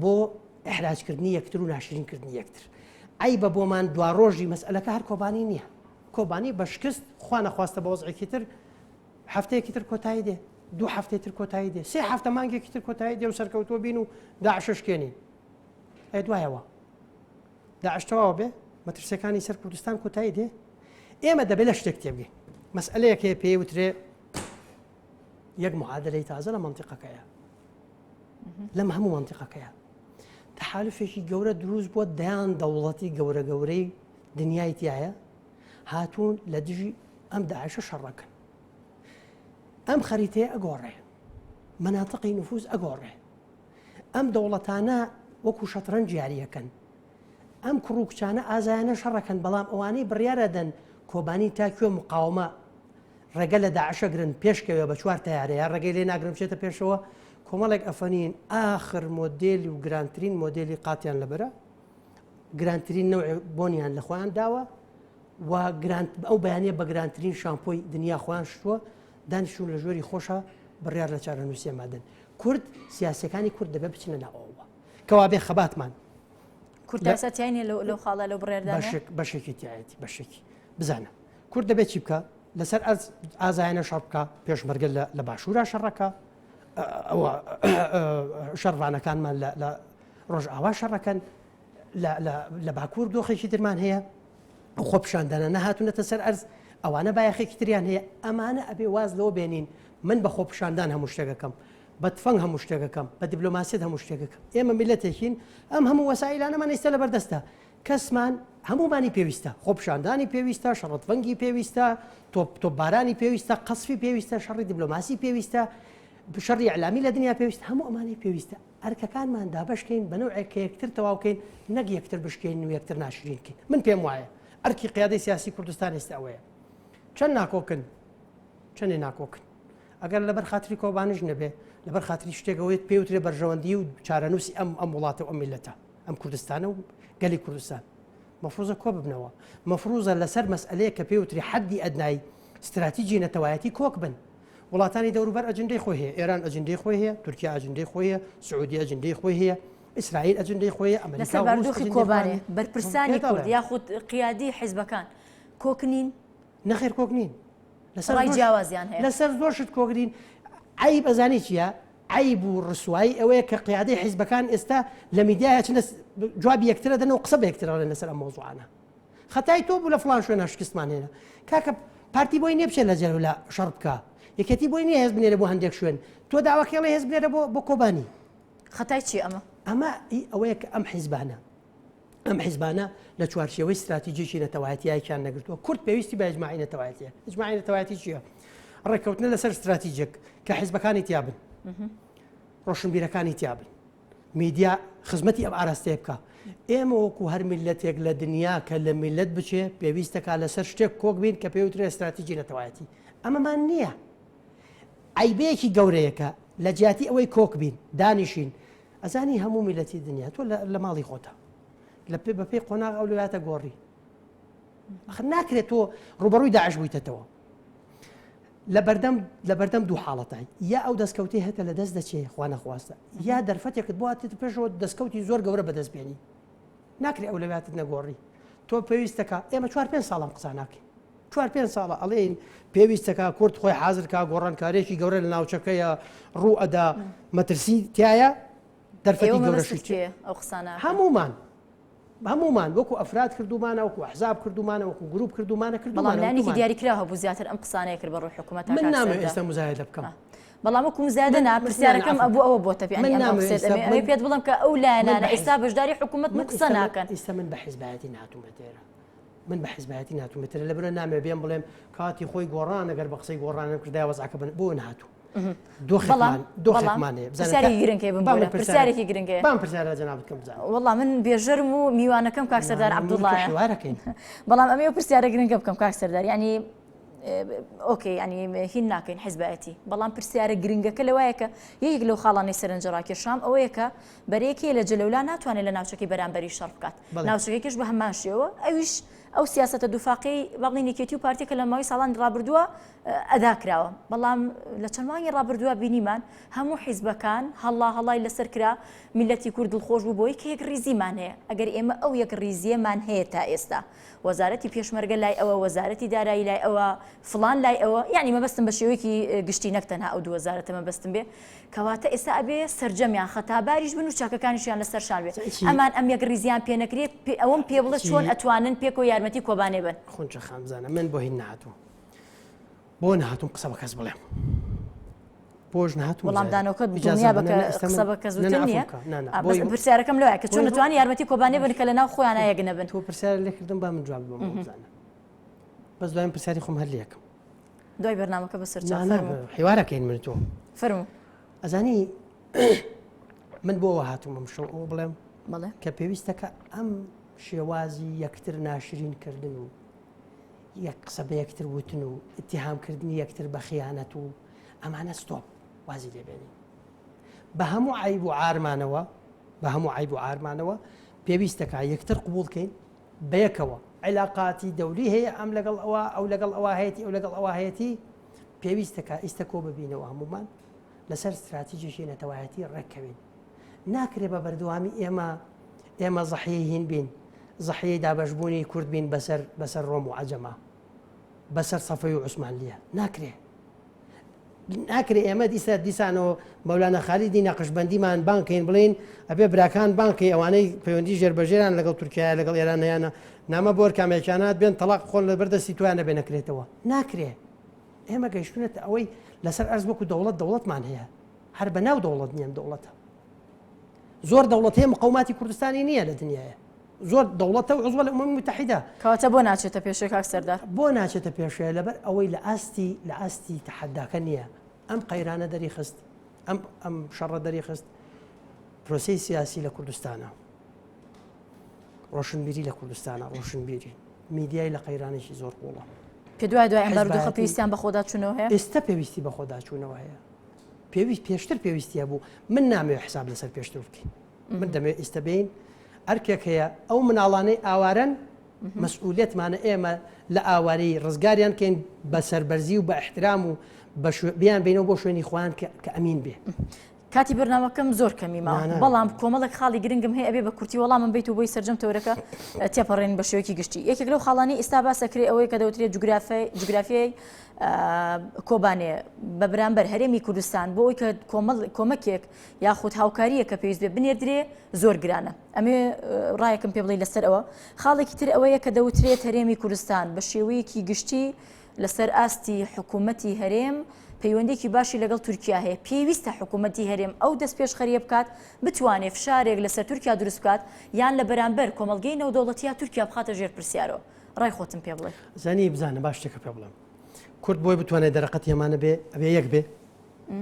B: بۆ ئیحراج کردنی یەکتر و ناشرین کردنی یەکتر عیبە بۆمان دوا ڕۆژی مەسئلەکە هەر کۆبانی نییە کۆبانی بە شکست خوا نەخواستە بە وەزعێکی تر هەفتەیەکی تر کۆتایی دێ دوو هەفتەی تر کۆتایی دێ سێ هەفتە مانگێکی تر کۆتایی دێ و سەرکەوتووە بین و داعششکێنی ئە دوایەوە داعشتەواوە بێ مەترسیەکانی سەر کوردستان کۆتایی دێ ئێمە دەبێت لە شتێک تێبگەین مەسئلەیەکێ پێی وترێ یەک معادلەی تازە لە منتیقەکەیە لەم هەموو منتیقەکەیە تحالفێکی گەورە دروست بۆ دەیان دەوڵەتی گەورە گەورەی دنیای تایە هاتوون لە دژی ئەم داعشە شەڕەکەن ئەم خەریتەیە ئەگۆڕێ مناتقی نفوز ئەگۆڕێ ئەم دەوڵەتانە وەکو شەترەن جیاریەکەن ئەم کوڕوکچانە ئازایانە شەڕەکەن بەڵام ئەوانەی بڕیارەدەن کۆبانی تاکوێ مقاومە ڕێگە لە داعشەگرن پێشکەوێ بە چوار تەیارەیە ڕێگەی لێ ناگرن بچێتە پێشەوە کۆمەڵێک ئەفەنین ئاخر مۆدێلی و گرانترین مۆدێلی قاتیان لەبەرە گرانترین نەوع بۆنیان لە خۆیان داوە و گرانت ئەو بەیانە بە گرانترین شامپۆی دنیا خۆیان شتووە دانیشون لە ژۆری خۆشە بڕیار لە چارەنووسە مادن کورد سیاسەکانی کورد دەبێ بچنە ناوەوە کەوا بێ خەباتمان
A: کوردسەتیانی لەو خاڵە لە بڕێرداشک بەشێکی تایەتی
B: بەشێکی بزانە کورد دەبێ چی بکا لەسەر ئەرز ئازایانە شەڕ بکە پێشمەرگە لە باشوورە شەڕەکە ئەوە شەڕوانەکانمان لە ڕۆژ ئاوا شەڕەکەن لە باکوور دۆخێکی درمان هەیە خۆ پیشاندانە نەهاتونەتە سەر ئەرز ئەوانە بایەخێکی تریان هەیە ئەمانە ئەبێ واز لەوە بێنین من بە خۆ پیشاندان هەموو شتێکەکەم بە تفەنگ هەموو شتێکەکەم بە دیبلۆماسیت هەموو شتێکەکەم ئێمە میلەتێکین ئەم هەموو وەسایلانەمان ئیستا لە بەردەستە کەسمان هەموومانی پێویستە، خۆپیشاندانی پێویستە، شەڕتڤەنگی پێویستە، تۆپ تۆپبارانی پێویستە، قەسفی پێویستە، شەڕی دیبلۆماسی پێویستە، شەڕی ئیعلامی لە دنیا پێویستە، هەموو ئەمانەی پێویستە ئەرکەکانمان دابەشکەین بە نەوعێک کە یەکتر تەواو کەین نەک یەکتر بشکێین و یەکتر ناشرین کەین. من پێم وایە ئەرکی قیادەی سیاسی کوردستان ئێستە ئەوەیە چەند ناکۆکن چەندێ ناکۆکن ئەگەر لەبەر خاتری کۆبانیش نەبێ لەبەر خاتری شتێکەوەیت پێوترێ بەرژەوەندی و چارەنووسی ئەم ئەم وڵاتە و ئەم میلەتە. ئەم کوردستانە و گەلی کوردستان مەفروزە کۆ ببنەوە مەفروزە لەسەر مەسئلەیە کە پێوتری حەدی ئەدنای ستراتیجی نەتەوایەتی کۆک بن وڵاتانی دەوروبەر ئەجندەی خۆی هەیە ئێران ئەجندەی خۆی هەیە تورکیا ئەجندەی خۆی هەیە سعودی ئەجندەی خۆی هەیە ئیسرائیل ئەجندەی خۆی ئەمریکا بەردوخی کۆبانێ
A: بەرپرسانی کورد یاخود قیادی حیزبەکان کۆکنین نەخێر کۆک
B: نین لەسەر ڕای زۆر
A: جیاوازیان هەیە. لەسەر زۆر شت کۆک نین
B: عەیب ئەزانی چیە عەیب و ڕسوایی ئەوەیە کە قیادەی حیزبەکان ئێستا لە میدیای ئەچنە س- ب- جوابی یەکترە دەن و قسە بە یەکتر ئەڵێن لەسەر ئەم مەوزوعانە خەتای تۆ بوو لە فڵان شوێنە شکستمان هێنا کاکە پارتی بۆی نییە بچێت لە جەلەولا شەڕ بکا یەکێتی بۆی نییە هێز بنێرێ بۆ هەندێک شوێن تۆ داواکەی ئەڵێ هێز بنێرە بۆ بۆ کۆبانی خەتای چیە
A: ئەمە؟ ئەمە ئی
B: ئەوەیە کە ئەم حیزبانە ئەم حیزبانە لە چوارچێوەی ستراتیجێکی نەتەوایەتیایکیان نەگرتووە کورد پێویستی بە ئەجمماعی نەتەوایەتە ئەجمماعی نەتەوایەتی چییە ڕێککەوتنە لەسەر ستراتیجێک کە حیزبەکانی تیابن ڕۆشنبیرەکانی تیابن میدیا خزمەتی ئەم ئاراستەیە بکە ئێمە وەکو هەر میلەتێک لە دنیا کە لە میلەت بچێ پێویستەکە لەسەر شتێک کۆک بین کە پێوترێ ستراتیجی نەتەوایەتی ئەمەمان نییە ئایبەیەکی گەورەیەکە لە جیاتی ئەوەی کۆک بین دانیشین ئەزانی هەموو میلەتی دنیا تۆ لە ماڵی خۆتە لە پێ بەپی قۆناغ ئەو لەلاتە گۆڕی ناکرێت تۆ ڕوبەڕووی داعش بوویتەوە لە بەردەم لە بەردەم دوو حاڵەتای یا ئەو دەستکەوتی هەتە لە دەست دەچێ خوانەخواستە یا دەرفەتێکت باتێت پێشەوە دەستکەوتی زۆر گەورە بەدەست بێنی ناکرێ ئەو لەواتت نەگۆڕی تۆ پێویستەکە ئێمە چوار پێ ساڵم قسانناکەین چوار پێنج ساڵە ئەڵێین پێویستە کە کورد خۆی حازر کا گۆڕانکارێکی گەورە لە ناوچەکەیە ڕوو ئەدا مەترسی تایە دەرفەتی گەورەشی چێ ئەو قسانە
A: هەمومان
B: هەمومان وەکو ئەفراد کردومانە وەکو حزاب کردومانە وەکو گروپ کردومانە کردومانانی دیاریکرا
A: هەبوو زیاتر ئەم قسانەیە کرد بە ڕوح حکوومەت من نامێ ئێستا مزایدە
B: بکەم بەڵام وەکو مزایدە
A: ناپرسیارەکەم ئەبوو ئەوە بۆ تەبی ئەمێ پێت بڵم کە ئەو لایەنانە ئێستا بەشداری
B: حکوومەت
A: من قسە ناکەن ئیستا من
B: بە
A: حزبایەتی ناتومە دێرە من
B: بە حزبایەتی ناتوم بترە لە برە نامێ بێم بڵێم کاتی خۆی گۆڕان ئەگەر بە قسەی گۆڕانم کردای وەزعکە بن بۆ نهاتوو دۆخمانەیەسارێکی گرنگێ
A: بام پرسیارە جناب بکەم
B: وڵا من بێژەرم
A: و میوانەکەم کاک سەردار عبدوڵڵاەکەین
B: بەڵام ئەمێ
A: پرسیارە گرنگە بکەم کاک سەردار ینی ئۆکەی ینی هین ناکەین حزبایەتی بەڵام پرسیارە گرنگەکە لەوایەکە یەک لەو خاڵانی سەرنجڕاکێشام ئەوەیەکە بەرێکی لە جلەولا ناتوانێت لە ناوچەکەی بەرامبەری شەڕ بکات ناوچەکەکەش بە هەمان شێوە ئەویش ئەو سیاستە دوفاقی بەڵی نکێتی و پارتی کە لە ماوەی ساڵانی ڕابردووە ئەدا کراوە بەڵام لە چەند مانگی ڕابردووە بینیمان هەموو حیزبەکان هەڵا هەڵای لەسەر کرا میلەتی کورد دڵخۆش بوو بۆی کە یەک ریزیمان هەیە ئەگەر ئێمە ئەو یەک ریزیەمان هەیە تا ئێستا وەزارەتی پێشمەرگە لای ئەوە وەزارەتی دارایی لای ئەوە فلان لای ئەوە یعنی مەبەستم بە شێوەیەکی گشتی نەکتەنها ئەو دووەزارەتە مەبەستم بێ کەواتە ئێستا ئەبێ سەرجەمیان خەتاباریش بن و چەکەکانیشیان لەسەر شان بێ ئەمان ئەم یەکڕیزیان پێ نەکرێ ئەوەم پێ بڵێ چۆن ئەتوانن پێکەوە یارمەتی کۆبانێ بن. خونچە خان بزانە من
B: بۆ هین نهاتووم بۆ نهاتووم قسە بە کەس بڵێم بۆش نهاتوو وەڵامدانەوەکەت دنیا
A: بە قسە بە کەس نیە پرسیارەکەم لەوە کە چۆن توانی یارمەتی کۆبانێ بن کە لە ناو خۆیان یەک نەبن تۆ پرسیار لێکردم با
B: من جواب بم بزانە بەس دوایان پرسیاری خۆم هەر لەکەم دوای بەرنامەکە
A: بەسەر حیوارەکەین
B: من تۆ فەرمو
A: ئەزانی
B: من بۆەوە هاتوومم شەو ئەو بڵێم بڵێ کە پێویستەکە ئەم شێوازی یەکتر ناشرین کردن و یەک قسە بە یەکتر وتن و اتهامکردنی یەکتر بە خیانەت و ئەمانە ستۆپ وازی لێبێنین بە هەموو عیب و ئارمانەوە بە هەموو عیب و ئارمانەوە پێویستەکە یەکتر قوبولکەین بەیەکەوە عیلاقاتی دەولی هەیە ئەم لەگەڵ ئەوە ئەو لەگەڵ ئەوە هەیەتی ئەو لەگەڵ ئەوە هەیەتی پێویستە کە ئیستە کۆ ببینەوە هەمومان لەسەر ستراتیجێکی نەتەوایەتی ڕێککەوین ناکرێ بە بەردەوامی ئێمە ئێمە زەحی هین بین زەحی دابشبوونی کورد بین بەسەر بەسەر ڕۆم و عجەما بەسەر سەفەی و عوسمانلیە ناکرێ ناکرێ ئێمە دیسە دیسانەوە مەولانا خالیدی نەقشبندیمان بانکەین بڵین ئەبێ براکان بانکی ئەوانەی پەیوەندی ژێربەژێران لەگەڵ تورکیا لەگەڵ ئێرانیانە نامە بۆر کامێکیانات بێن تەلاق خۆن لە بەردەستی تویان نەبێ نەکرێتەوە ناکرێ ئێمە گەیشتونێت ئەوەی لەسەر ئەرز وەکو دەوڵەت دەوڵەتمان هەیە هەر بە ناو دەوڵەت نییەن دەوڵەتە زۆر دەوڵەت هەیە مقاوماتی کوردستانی نییە لە دنیاە زۆر دەوڵەتە و عزوە لە ئومەمی موتەحیدە. کەواتە بۆ ناچێتە
A: پێشێ کاک سەردار؟ بۆ ناچێتە پێشێ
B: لەبەر ئەوەی لە ئاستی لە ئاستی تەحەداکە نییە ئەم قەیرانە دەری خست ئەم ئەم شەڕە دەری خست پرۆسی سیاسی لە کوردستانە ڕۆشنبیری لە کوردستانە ڕۆشنبیری میدیای لە قەیرانێکی زۆر قوڵە کە دوای دوای ئەم
A: بارودۆخە پێویستیان بەخۆدا چونەوە هەیە ئێستا پێویستی بەخۆدا
B: چوونەوە هەیە پێویست پێشتر پێویستیە بوو من نامێ حساب لەسەر پێشتر بکەین من دەمەوێت ئیستە بێین ئەرکێک هەیە ئەو مناڵانەی ئاوارەن مەسئولێتمانە ئێمە لە ئاواری ڕزگاریان کەین بە سەربەرزی و بە احترام و بیان بینەوە بۆ شوێنی خۆیان کە ئەمین بێ. کاتی بەرنامەکەم
A: زۆر کەمی ما بەڵام کۆمەڵک خاڵی گرنگم هەیە ئەبێ بە کورتی وەڵام من بیت و بۆی سرجەم تەورەکە تێپەڕێن بە شوێکی گشتی یەکێک لەو خاڵانی ئیستا باسەکرێ ئەوەی کە دەوترێت جوگرافی جوگرافیای کۆبانێ بە برامبەر هەرێمی کوردستان بۆ ئەوی کە کۆمەکێک یاخود هاوکارییەک کە پێویست بێ بنێردرێ زۆر گرانە. ئەمەوێ ڕایەکم پێ بڵێی لەسەر ئەوە. خاڵێکی تر ئەوەیە کە دەوترێت هەرێمی کوردستان بە شێوەیەکی گشتی لەسەر ئاستی حکوومەتی هەرێم پەیوەندیێکی باشی لەگەڵ تورکیا هەیە، پێویستە حکوومەتی هەرێم ئەو دەستپێشخەرییە بکات بتوانێ فشارێک لەسەر تورکیا دروست بکات یان لە بەرانبەر کۆمەڵگەی نێودەوڵەتییە تورکیا بخاتە ژێر پرسیارەوە. ڕای خۆتم پێ بڵێ. زانی بزانە با شتێکە
B: پێ بڵێم. کورد بۆی بتوانێ دەرەقەتی ئەمانە بێ ئەبێ یەک بێ.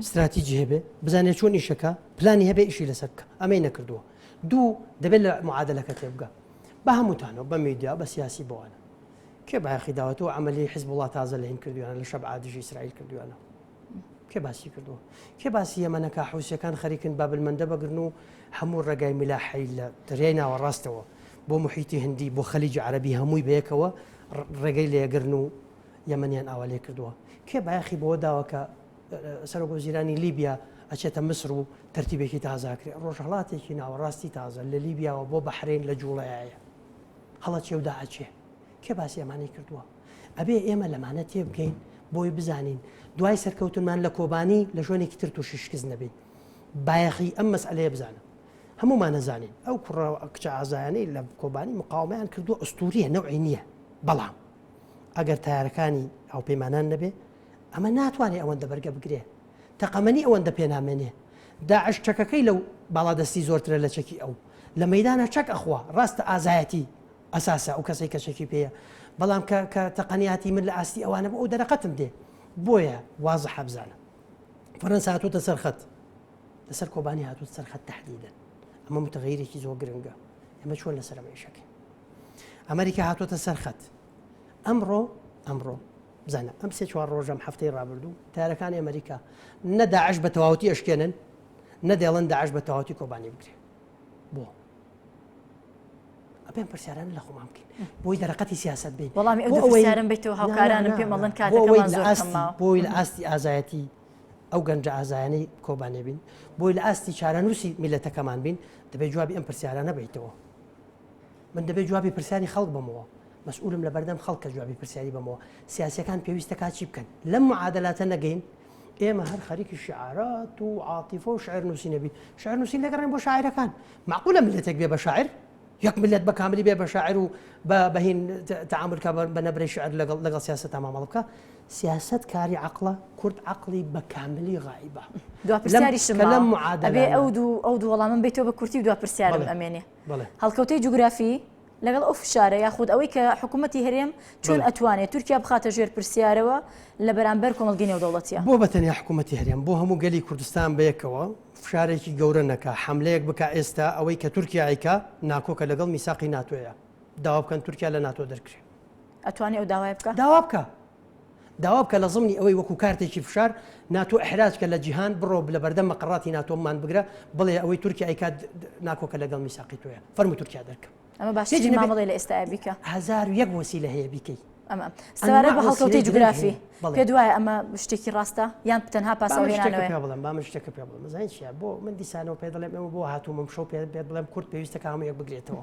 B: ستراتیجی هەبێ بزانێت چۆن ئیشەکە پلانی هەبێ ئیشی لەسەر بکە ئەمەی نەکردووە دوو دەبێت لە معادلەکە تێبگە بە هەمووتانەوە بە میدیا بە سیاسی بۆوانە کێ باخی داوەتەوە ئەمەلی حز وڵات تازە لە هین کردویان لە شەب عادژی ئیسرائیل کردویانە کێ باسی کردووە کێ باسی ئەمەەکە حوسەکان خەریکن بابلمەندە بەگرن و هەموو ڕێگای ملاحی لە دەریای ناوە ڕاستەوە بۆ محیتی هەندی بۆ خەلیجی عربی هەمووی بەیەکەوە ڕێگەی لێگرن و یەمەنیان ئاوا لێ کردووە کێ بایەخی بۆ داوە کە سەرۆک وەزیرانی لیبیا ئەچێتە مسر و ترتیبێکی تازاکرێ ڕۆژهڵاتێکی ناوەڕاستی تازە لە لیبیاوە بۆ بەحرین لە جوڵەیە هەڵە چێودا ئەچێ کێ باسی ئەمانی کردووە ئەبێ ئێمە لەمانە تێبگەین بۆی بزانین دوای سەرکەوتنمان لە کۆبانی لە ژۆنێکی تر تووشی شکست نەبین بایەخی ئەم مەسئلەیە بزانم هەمومان نەزانین ئەو کوڕە کچە ئازایانەی لە کۆبانی مقاومیان کردو ئەستوریە نەوەی نییە بەڵام ئەگەر تارەکانی هاوپەیمانان نەبێ ئەمە ناتوانێت ئەوەندە بەرگە بگرێ تەقەمەنی ئەوەندە پێنامێنێ داعش چەکەکەی لەو باڵادەستی زۆرترە لە چەکی ئەو لە مەدانە چەک ئەخوا ڕاستە ئازایەتی ئەساسە ئەو کەسێک کە چەکی پێەیە بەڵام کە کە تەقەنیاتی من لە ئاستی ئەوانە بۆ ئەو دەرەقەتم دێ بۆیە وازە حەبزانە فەرەنسا هاتوتە سەرخەت لەسەر کۆبانی هاتوت سەرخەت تهدیدن ئەمە متغیرێکی زۆر گرنگە ئەمە چۆن لەسەرەوەیشەکەین ئەمریکا هاتۆتە سەر خەت ئەمڕۆ ئەمڕۆ بزانە ئەم سێ چوار ڕۆژەم هەفتەی ڕابردوو تارەکانی ئەمریکا نەداعش بە تەواوتی ئەشکێنن نەدێڵن داعش بە تەواوتی کۆبانی بگرێ بۆ ئەپێن پرسیاران لە خۆمان بکەین بۆی دەرەقەتی سیاست بین وەڵامی
A: ئەویارم بێتەوە هاوکارانم پێمەڵن کات بۆی لە ئاستی
B: ئازایەتی ئەو گەنج ئازایانی کۆبانێ بین بۆی لە ئاستی چارەنووسی میلەتەکەمان بین دەبێت جوابی ئەم پرسیارانە بیتەوە من دەبێت جوابی پرسیاری خەڵک بەمەوە مەسئولم لە بەردەم خەڵک کە جوابی پرسیاری بەمەوە سیاسەکان پێویستە کاچی بکەن لەم معادلاتە نەگەین ئێمە هەر خەریکی شعارات و عاتیفە و شعر نووسی نەبی شعر نووسین دەگەڕێن بۆ شاعرەکان معقولە ملەتێک بێ بە شاعر یەک ملت بە کاملی بێ بە شاعر و بە بەهین تعاملکە بە نەبرەی شعر لەگەڵ لەگەڵ سیاست تا مامەڵ بکە سیاست کاری عقلە کورد عقلی بە کاملی غایبە دوپرسیاریشم
A: لەم معادلێ ئەو دوو ئەو دوو وەڵامم بیتەوە بە کورتی و دوپرسیارم ئەمێنێ هەڵکەوتەی جوگرافی، لەگەڵ ئەو فشارە یاخود ئەوەی کە حکوومەتی هەرێم چۆن ئەتوانێت تورکیا بخاتە ژێر پرسیارەوە لە بەرامبەر کۆمەڵگەی نێودەوڵەتییە؟ بۆ بە تەنیا حکوومەتی
B: هەرێم بۆ هەموو گەلی کوردستان بەیەکەوە فشارێکی گەورە نەکا، حەملەیەک بکا ئێستا ئەوەی کە تورکیا ئەیکا ناکۆکە لەگەڵ میساقی ناتۆیە، داوا بکەن تورکیا لە ناتۆ دەرکرێ. ئەتوانێ ئەو داوایە
A: بکا؟ داوا بکا.
B: داوا بکە لە زمنی ئەوەی وەکو کارتێکی فشار ناتۆ ئیحراج کە لە جیهان بڕۆ لە بەردەم مەقەڕاتی ناتۆ مان بگرە بڵێ ئەوەی تورکیا ئەیکات ناکۆکە لەگەڵ میساقی تۆیە فەرموو تورکیا دەرکە ئەمە باش هیچ چی نەبێت. مامەڵەی
A: لە ئێستایا بیکە هەزار و یەک وەسیلە
B: هەیە بیکەی ئەمە سەبارەت
A: بە هەڵکەوتەی جوگرافی پێ دوایە ئەمە شتێکی ڕاستە یان تەنها با من شتێکە پاسەوهێنانەوەیە پێ بڵێم با من شتێکە پێ
B: بڵێم زانین چیە بۆ من دیسانەوە پێ دەڵێم ئەوە بۆ هاتوومم شەو پێ پێ بڵێم کورد پێویستە کامەیەک بگرێتەوە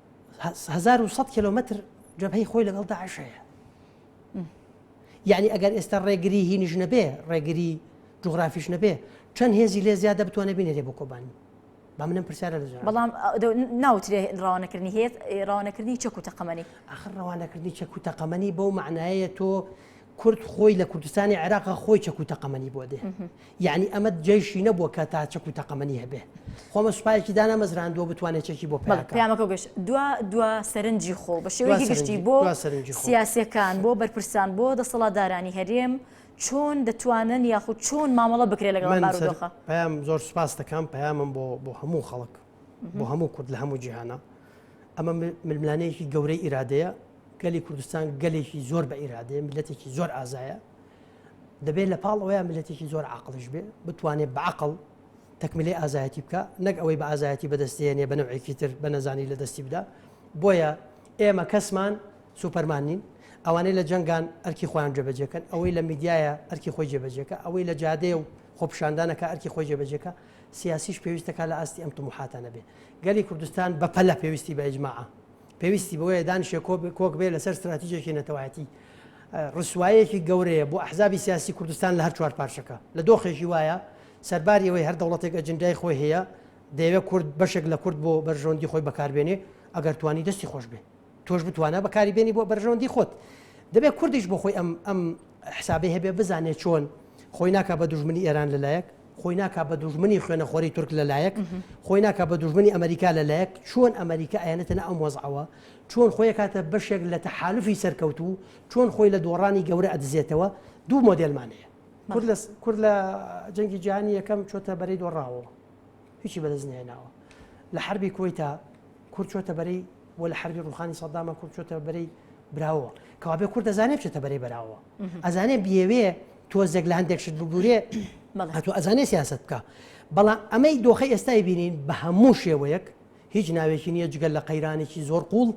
B: هەزار و سەد کیلۆمەتر جەبهەی خۆی لەگەڵ داعش هەیە یعنی ئەگەر ئێستا ڕێگری هینیش نەبێ ڕێگری جوغرافیش نەبێ چەند هێزی لێ زیادە بتوانێت بینێتێ بۆ کۆبانی با منم پرسیارە لە بەڵام
A: ناوترێ ڕوانەکردنی هێت ڕوانەکردنی چەک و تەقەمەنی ئاخر ڕوانەکردنی
B: چەک و تەقەمەنی بەو معنایە تۆ کورد خۆی لە کوردستانی عێراقا خۆی چەک و تەقەمەنی بۆ دێ یعنی ئەمە جێشی نەبووە کە تا چەک و تەقەمەنی هەبێ خۆمە سوپایەکی دانامەزراندووە بتوانێت چەکی بۆ پیامەکە گەشت دوا
A: دوا سەرنجی خۆ بە شێوەی گشتی بۆ سەرنجی سیاسەکان بۆ بەرپرسان بۆ دەسەڵاتدارانی هەرێم چۆن دەتوانن یاخود چۆن مامەڵە بکرێت لەگەڵ پام زۆر سپاس
B: دەکەم پامم بۆ بۆ هەموو خەڵک بۆ هەموو کورد لە هەموو جیهانە ئەمە ململانەیەکی گەورەی ئیرادەیە گەلی کوردستان گەلێکی زۆر بە ئیرادەیە میلەتێکی زۆر ئازایە دەبێت لە پاڵ ئەوەیە میلەتێکی زۆر عقلش بێ بتوانێت بەعقل تەکمیلی ئازایەتی بکە نەک ئەوەی بە ئازایەتی بەدەستێنێ بە نەوەیەکی تر بە نەزانی لە دەستی بدا بۆیە ئێمە کەسمان سوپەرمان نین ئەوانەی لە جەنگان ئەرکی خۆیان جێبەجێکەن ئەوەی لە میدیایە ئەرکی خۆی جێبەجێکە ئەوەی لە جادەیە و خۆپشاندانەکە ئەرکی خۆی جێبەجێکە سیاسیش پێویست دەکات لە ئاستی ئەم تموحاتە نەبێ گەلی کوردستان بە پەلە پێویستی بە ئیجماعە پێویستی بۆیە دانیشێ کۆک بێ لەسەر استراتیژێکی نەتەوایەتی ڕسوایەکی گەورەیە بۆ ئەحزابی سیاسی کوردستان لە هەر چوار پارچەکە لە دۆخێکی وایە سەرباری ئەوەی هەر دەوڵەتێک ئەجندای خۆی هەیە دەیەوێت کورد بەشێک لە کورد بۆ بەرژەوەندی خۆی بەکاربێنێ ئەگەر توانی دەستی خۆش بێ تۆش بتوانە بەکاری بێنی بۆ بەرژەوەندی خۆت دەبێت کوردیش بۆ خۆی ئەم ئەم حسابی هەبێ بزانێت چۆن خۆی ناکە بە دوژمنی ئێران لەلایەک خۆی ناکە بە دوژمنی خوێنەخۆری تورک لەلایەک خۆی ناکە بە دوژمنی ئەمریکا لەلایەک چۆن ئەمریکا ئەیانەتەنە ئەم وەزعەوە چۆن خۆی کاتە بەشێک لە تەحالفی سەرکەوت و چۆن خۆی لە دۆڕانی گەورە ئەدزێتەوە دوو مۆدلمانەیە کورد لە جەنگی جیهانی یەکەم چۆتە بەری دۆڕاوە هیچی بەدەستنیێناوە لە حربی کۆیتا کورد چۆتە بەرەی بۆ لە حەربی ڕوخانی سەدامە کورد چۆتە بەرەی براوە کەوابێ کورد دەزانێت بچێتە بەرەی بەراوە ئەزانێ بێوێ تۆزێک لە هەندێک شت بگورێ هاتو ئەزانێ سیاست بکە بەڵام ئەمەی دۆخی ئێستای بینین بە هەموو شێوەیەک هیچ ناوێکی نییە جگەل لە قەیرانێکی زۆر قوڵ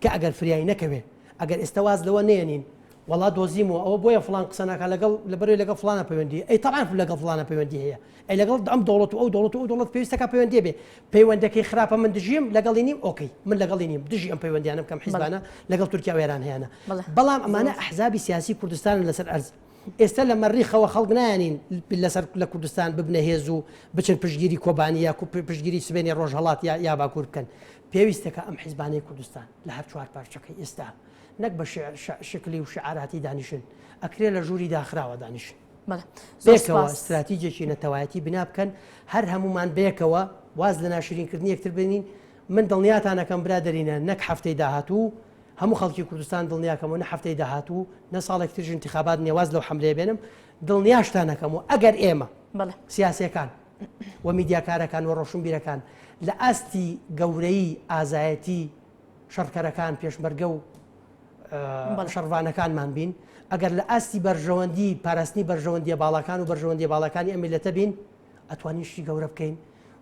B: کە ئەگەر فریای نەکەوێ ئەگەر ئێستا واز لەوە نێنین وڵا دۆزیمەوە ئەوە بۆیە فلان قسەناکە لەگەڵ لە بەرەوەی لەگە فلانە پەیوەندی ئەی تاعاف لەگە فلانە پەیوەندی هەیە ئەی لەگەڵ ئەم دەوڵەت و ئەو دەوڵەت و ئەو دەوڵەت پێویست دەکات پەیوەندی هەبێت، پەیوەندەکەی خراپە من دژیم لەگەڵی نیم ئۆکەی من لەگەڵی نیم دژی ئەم پەیوەندیانەم کە ئەم حیزبانە لەگەڵ تورکیا و ئێران هەیانە بەڵام ئەمانە ئەحزابی سیاسی کوردستانن لەسەر ئەرز ئێستا لە مەریخەوە خەڵک نایانین لەسەر لە کوردستان ببنە هێز و بچن پشگیری کۆبانی یا پشگیری سبێنی ڕۆژهڵات یا یا باکوور بکەن پێویستەکە ئەم حیزبانەی کوردستان لە هەر چوار پارچەکەی ئێستا نەک بە شکلی و شعاراتی دانیشن ئەکرێ لە ژووری داخراوە دانیشن بێکەوە استراتیجێکی نەتەوایەتی بنا بکەن هەر هەمومان بێکەوە واز لە ناشرینکردنی یەکتر بنین من دڵنیاتانەکەم برادرینە نەک هەفتەی داهاتوو هەموو خەڵکی کوردستان دڵنیاکەمەوە نە هەفتەی داهاتوو نە ساڵێک ترژ انتخابات نێواز لەو حملێ بێنم دڵنیاشتانەکەم و ئەگەر ئێمە سیاسەکان و میدیاکارەکان و ڕۆشنبیرەکان لە ئاستی گەورەی ئازایەتی شەڕکەرەکان، پێشمەرگە و شەڕڤانەکانمان بین، ئەگەر لە ئاستی بەرژەوەندی پاراستنی بەرژەوەندیە باڵاکان و بەرژەوەندیە باڵاکانی ئەم میلەتە بین ئەتوانین شتی گەورە بکەین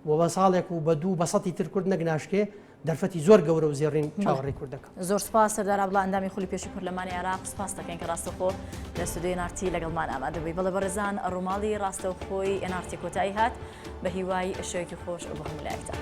B: و بە ساڵێک و بە دوو بە سەتی تر کورد نەک ناشکێ دەرفەتی زۆر گەورە و زێڕین چاوەڕێ کورد دەکەم زۆر سپاس سەردار
A: عبدڵا ئەندامی خولی پێشی پەرلەمانی عێراق سپاس دەکەین کە ڕاستەخۆ لە ستودیۆی نارتی لەگەڵمان ئامادەبووی بەڵێ بەڕێزان ڕووماڵی ڕاستەوخۆی ئێنارتی کۆتایی هات بە هیوای شەوێکی خۆش بۆ هەموو لایەکتان.